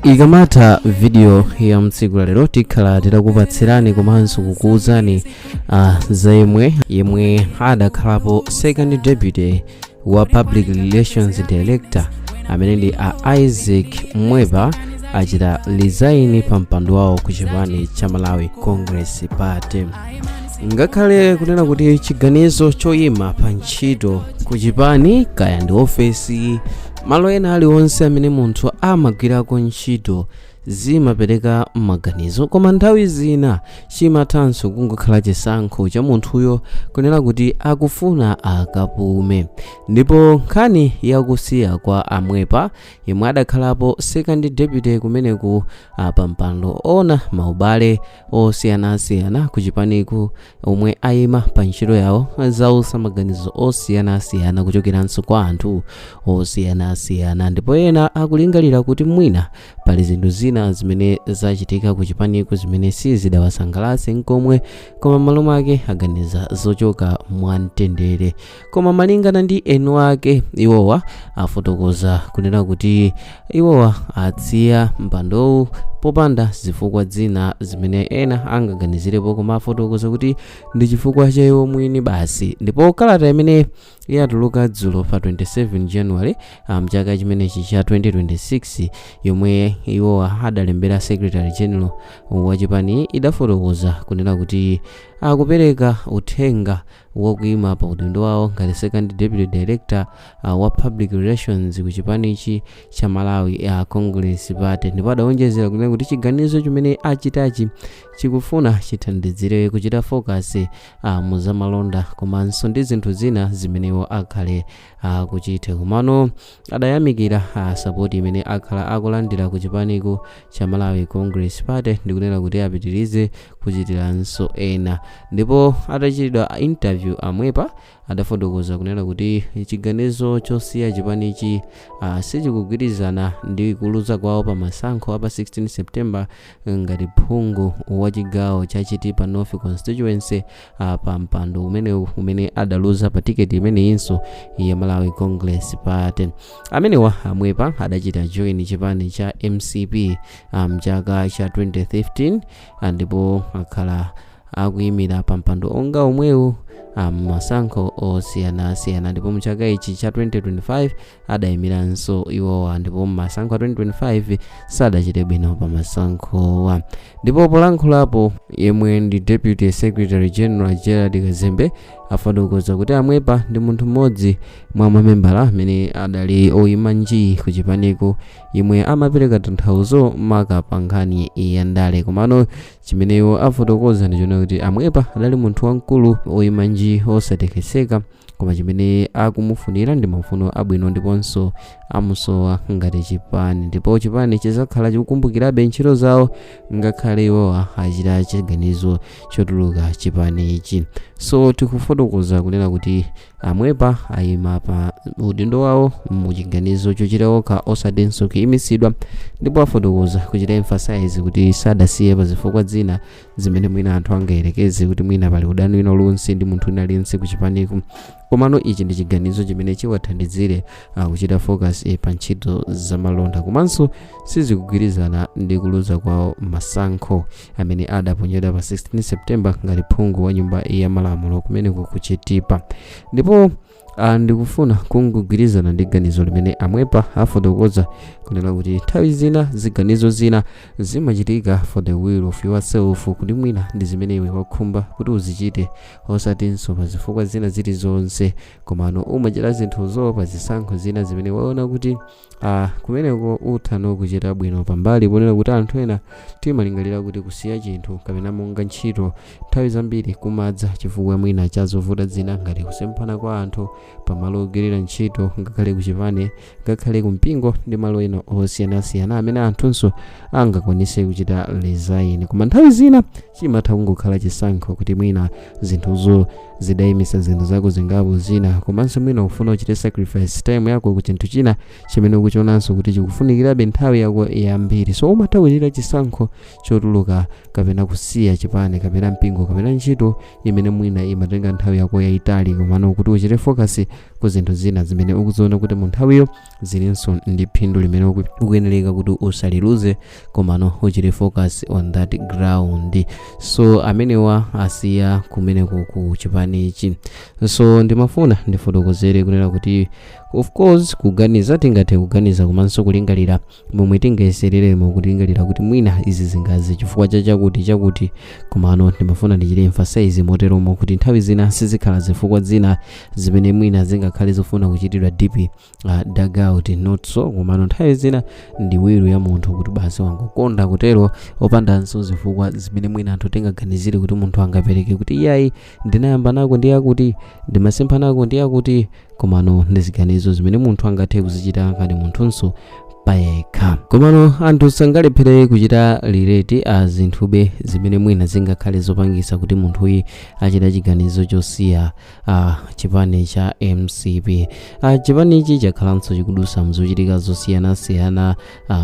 ikamatha video ya tsiku la lero tikhala titakupatsirani komanso kukuwuzani uh, za yemwe yemwe adakhalapo second deputy wa public relations director amene ndi a isaac mwepa achita resign pa mpando wawo ku chipani cha malawi congress party ngakhale kunena kuti chiganizo choyima pa ntchito ku chipani kaya ndi ofesi malo ena aliwonse amene munthu amagwirako ntchito zimapereka maganizo koma nthawi zina chimathanso kungokhala chisankho cha munthuyo kunena kuti akufuna akapume ndipo nkhani yakusiya kwa a mwepa yemwe adakhalapo second deputy kumeneku a pampando woona maubale osiyanasiyana ku chipaniku omwe ayima pa ntchito yawo zautsa maganizo osiyanasiyana kuchokeranso kwa anthu osiyanasiyana ndipo ena akulingalira kuti mwina pali zinthu zina zimene zachitika ku chipaniku zimene sizidawasangalatse nkomwe koma m'malo mwake aganiza zochoka mwamtendere koma malingana ndi eni ake iwowa afotokoza kunena kuti iwowa asiya mpandowu popanda zifukwa zina zimene ena angaganizirepo koma afotokoza kuti ndi chifukwa cha iwo mwini basi ndipo kalata imene yatuluka dzulo pa 27 january ah, mchaka chimenechi cha 2026 yomwe iwo adalembera secretary general wa chipani idafotokoza kunena kuti akupereka uthenga wakuyima pa udindo wawo ngati second deputy director uh, wa public relations ku chipanichi cha malawi a congress party ndipo adawonjezera kunena kuti chiganizo chimene achitachi chikufuna chithandizire kuchita focus uh, mu zamalonda komanso ndi zinthu zina zimene iwo akhala akuchita komano adayamikira ah, sapoti imene akhala akulandira ku chipaniku cha malawi congress party ndikunena kuti apitirize kuchitiranso ena ndipo atachitidwa interview a mwepa adafotokoza kunena kuti chiganizo chosiya chipanichi ah, sichikugwirizana ndi kuluza kwawo pa masankho a pa 16 september ngati phungu wa chigawo cha chitipa north constituency ah, pa mpando umenewu umene adaluza pa tiketi imeneyinso ya malawi congress party amenewa a mwepa adachita join chipani cha mcp ah, mchaka cha 2015 ah, ndipo akhala akuyimira pa mpando wonga omwewu ah, m'masankho osiyanasiyana ndipo mchaka ichi cha 2025 adaimiranso iwowa ndipo masankho a 2025 sadachite bwino pa masankhowa ndipo polankhulapo yemwe ndi deputy secretary general gerald kazembe afotokoza kuti amwepa ndi munthu mmodzi mwa mamembala amene adali oyima nji ku chipaniku yemwe amapereka tanthauzo maka pa nkhani ya ndale komano chimene iwo afotokoza ndi chonena kuti amwepa adali munthu wamkulu oyima nji osatekeseka koma chimene akumufunira ndi mafuno abwino ndiponso amusowa ngati chipani ndipo chipani chizakhala chikukumbukirabe ntchito zawo ngakhale iwowa achita chiganizo chotuluka chipani ichi so tikufotokoza kunena kuti amwepa ayima pa udindo wawo mu chiganizo chochita okha osatinso kuyimitsidwa ndipo afotokoza kuchita emphasize kuti sadasiye pa zifukwa zina zimene mwina anthu angayerekeze kuti mwina pali udani wina uliwonse ndi munthu wina aliyense kuchipaniku komano ichi ndi chiganizo chimene chiwathandizire uh, kuchita focus eh, pa ntchito zamalonda komanso sizikugwirizana ndi kuluza kwawo masankho amene adaponyedwa pa 16 september ngati phungu wa nyumba ya malamulo kumeneko ku chitipa ndipo Ah, ndikufuna kungogwirizana ndi ganizo limene amwepa afotokoza kunena kuti nthawi zina ziganizo zina zimachitika for the will of yourself kuti mwina ndi zimene iwe wakhumba kuti uzichite osatinso pa zifukwa zina zilizonse komano umachita zinthuzo pa zisankho zina zimene waona kuti a kumeneko utha no kuchita bwino pambali ponena kuti anthu ena timalingalira kuti kusiya chinthu kapena monga ntchito nthawi zambiri kumadza chifukwa mwina cha zovuta zina ngati kusemphana kwa anthu pamalo ogwirira ntchito ngakhale kuchipani ngakhale kumpingo ndi malo ena osiyanasiyana amene anthunso angakwanise kuchita resign koma nthawi zina chimatha kungokhala chisankho kuti mwina zinthuzo zidayimisa zinthu zako zingapo zina komanso mwina ukufuna uchite sacrifice time yako ku chinthu china chimene ukuchionanso kuti chikufunikirabe nthawi yako yambiri so umatha kuchita chisankho chotuluka kapena kusiya chipani kapena mpingo kapena ntchito imene mwina imatenga nthawi yako yayitali komano kuti uchite focus ku zinthu zina zimene ukuziona kuti mu nthawiyo zilinso ndi phindu limene uku- ukuyenereka kuti usaliluze komano uchite focus on that ground so amenewa asiya kumeneko ku chipani ichi so ndimafuna ndifotokozere kunena kuti of course kuganiza tingathe kuganiza komanso kulingalira Momwe tingayesereremo kulingalira kuti mwina izi zingadze chifukwa cha chakuti chakuti, komano ndimafuna ndichite emphasize moteromo kuti nthawi zina sizikhala zifukwa zina zimene mwina zingakhale zofuna kuchitidwa deep uh, dug out not so, komano nthawi zina ndi will ya munthu kuti basi wangokonda kutero opandanso zifukwa zimene mwina anthu tingaganizire kuti munthu angapereke kuti iyayi ndinayamba nako ndi yakuti ndimasempha nako ndi yakuti komano ndi ziganizo zimene munthu angathe kuzichita ngati munthunso payekha komano anthu sangalephere kuchita lireti a zinthube zimene mwina zingakhale zopangisa kuti munthuyu achite chiganizo chosiya a chipani cha mcp a chipanichi chakhalanso chikudusa mzochitika zosiyanasiyana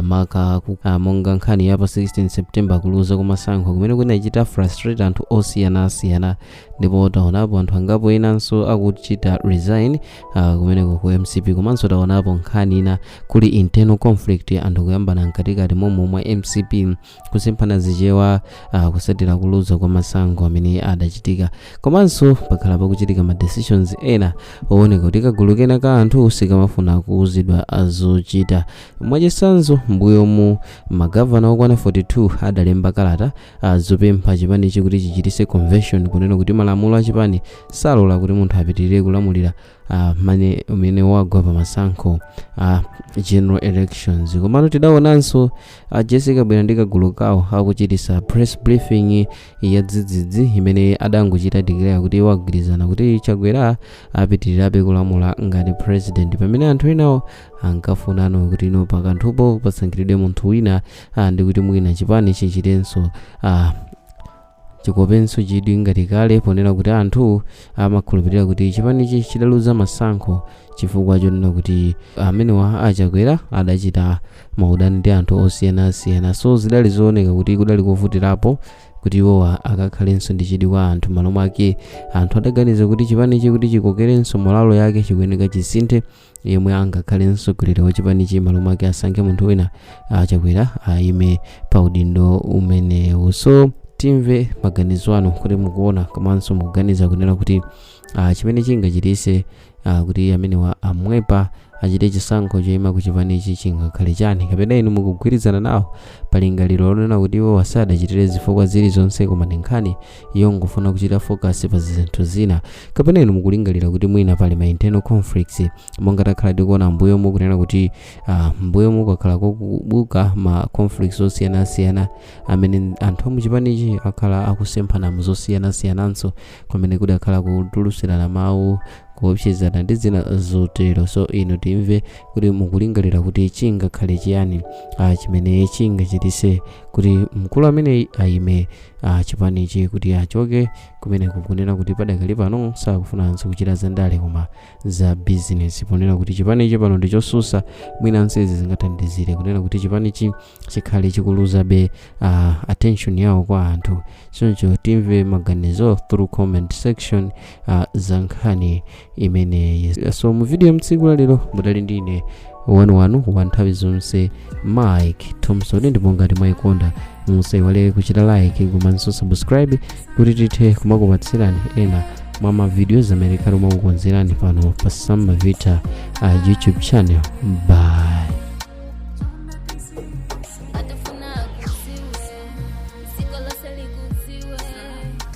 maka ku- ah, monga nkhani ya pa 16 september kuluza kumasankho kumene kunachita frustrate anthu osiyanasiyana ndipo taonapo anthu angapo enanso akuchita resign ah, kumeneko ku mcp komanso taonapo nkhani ina kuli internal conflict anthu kuyambana mkatikati momwe mwa mcp kusemphana Chichewa uh, kusatira kuluza kwa masankho amene adachitika komanso pakhala pakuchitika ma decisions ena owoneka kuti kagulu kena ka anthu sikamafuna kuuzidwa zochita mwachitsanzo mbuyomu magavana okwana 42 adalemba kalata uh, zopempha chipanichi kuti chichitise convention kunena kuti malamulo a chipani salola kuti munthu apitirire kulamulira ah, pamene wagwa pa masankho a general elections komano tidaonanso a jessica kabwila ndi kagulu kawo akuchitisa press briefing ya dzidzidzi imene adangochita declare kuti iwo agwirizana kuti chakwera apitirirabe kulamula ngati president pamene anthu enawo ankafunano kuti ino pakanthupo pasankhidwe munthu wina ah, ndi kuti mwina chipani chichitenso ah, Chikopenso chidwi ngati kale ponena kuti anthu amakhulupilira kuti chipanichi chidaluza masankho chifukwa chonena kuti amenewa a Chakwera adachita maudani ndi anthu osiyanasiyana so zidali zooneka kuti kudali kovutirapo kuti iwowa akakhalenso ndi chidwi kwa anthu malo mwake anthu adaganiza kuti chipanichi kuti chikokerenso morale yake chikuyeneka chisinthe yemwe angakhale mtsogoleri wa chipanichi malo mwake asankhe munthu wina a chakwera ayime pa udindo umenewu so timve maganizo anu kuti mukuona komanso mukuganiza kunena kuti ah, chimene chingachitise ah, kuti amenewa a mwepa achite chisankho choyima ku chipanichi chingakhale chani kapena inu mukugwirizana nawo pa lingaliro lonena kuti iwowa sadachitire zifukwa zilizonse koma ndi nkhani yongofuna kuchita focus pa zinthu zina kapena inu mukulingalira kuti mwina pali ma internal conflicts monga takhala tikuona mbuyomu kunena kuti ah, mbuyomu kwakhala kukubuka ma conflicts osiyanasiyana amene anthu a m'chipanichi akhala akusemphana mu zosiyanasiyananso kumene kudakhala kutulutsirana mawu kuopsezana ndi zina zotero so inu timve kuti mukulingalira kuti chingakhale chiyani ah, chimene chingachitise kuti mkulu ameneyi ayime a chipanichi kuti achoke kumeneko kunena kuti padakali pano sakufunanso kuchita za ndale koma za bizinesi ponena kuti chipanichi pano ndi chotsutsa mwinanso izi zingathandizire kunena kuti chipanichi chikhale chikuluzabe uh, attention yawo kwa anthu choncho timve maganizo through comment section uh, za nkhani imeneyi so mu video ya mtsiku la lero mudali ndi ine wanu wanu wa nthawi zonse mike thompson ndipo ngati mwayikonda musaiwale kuchita like komanso subscribe kuti tithe kumakupatsirani ena mwa mavidiyo amene timakukonzerani pano pa samba vita uh, youtube channel bye